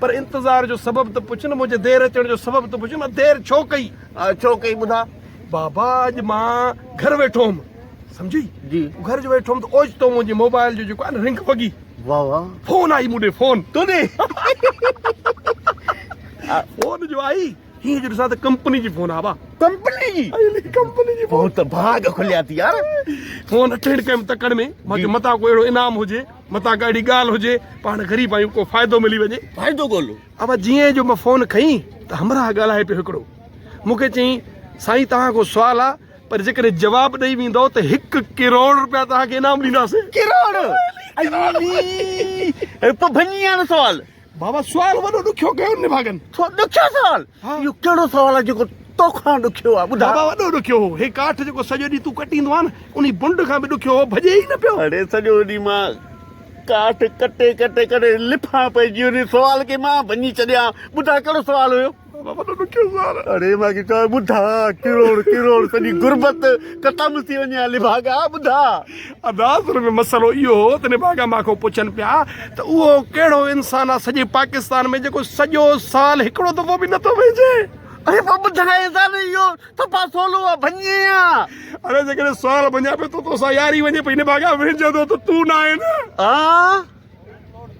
پر انتظار جو سبب ته پڇ نه. منهنجي دير اچڻ جو سبب ته پڇ نه. دير ڇو ڪئي؟ ڇو ڪئي ٻڌاء. بابا اڄ مان گهر ويٺو هوم سمجهي. جي. گهر جو ويٺو هوم ته اوچتو منهنجي موبائل جو جيڪو آهي نه رنگ وڳي. واهه واهه. فون آئي مون ڏي فون. تون ڏي. فون جو آئي. هي جو ڏسان ته ڪمپني جي فون آ با ڪمپني جي ڪمپني جي فون ته ڀاڳ کليا ٿي يار فون اٺين ڪم تڪڙ ۾ ماکي جي. متا ڪو اهڙو انعام هجي متا ڪا اهڙي ڳالهه هجي پاڻ غريب آيون ڪو فائدو ملي وڃي فائدو ڳولو ابا جيئن جو مان فون کئين ته همراهه ڳالهائي پيو هڪڙو مونکي چئين سائين توهان کان سوال آ پر جيڪڏهن جواب ڏئي ويندو ته هڪ ڪروڙ روپيا توهان کي انعام ڏينداسين ڪروڙ ايلي پڀنيان سوال بابا سوال وڏو ڏکيو ڪيو نڀاڳن. سو ڏکيو سوال؟ ها. اهو ڪهڙو سوال آهي جيڪو توکان ڏکيو آهي ٻڌاء. بابا وڏو ڏکيو هو. هي ڪاٺ جيڪو سڄو ڏينهن تون ڪٽيندو آهين نه انهي بنڊ کان به ڏکيو هو ڀڄي ئي نه پيو. اڙي سڄو ڏينهن مان ڪاٺ ڪٽي ڪٽي ڪري لڦان پئجي انهي سوال کي مان ڀڃي ڇڏيان ها ٻڌاء ڪهڙو سوال هيو. وڏو ڏکيو سار اڙي مان کي چوي ٻڌا ڪروڙ ڪروڙ سڄي غربت ختم ٿي وڃي ها نڀاڳا ٻڌا ادا اصل ۾ مسئلو اهو هو ته نڀاڳا مان کان پڇن پيا ته اهو ڪهڙو انسان آهي سڄي پاڪستان ۾ جيڪو سڄو سال هڪڙو دفعو به نٿو ويجهي اري پوء ٻڌاء ته اهو ٿپا سولو آهي ڀڃي آهي اري جيڪڏهن سوال ڀڃان پيو ته توسان ياري وڃي پئي نڀاڳا ويجهندو ته تون نه آهين ها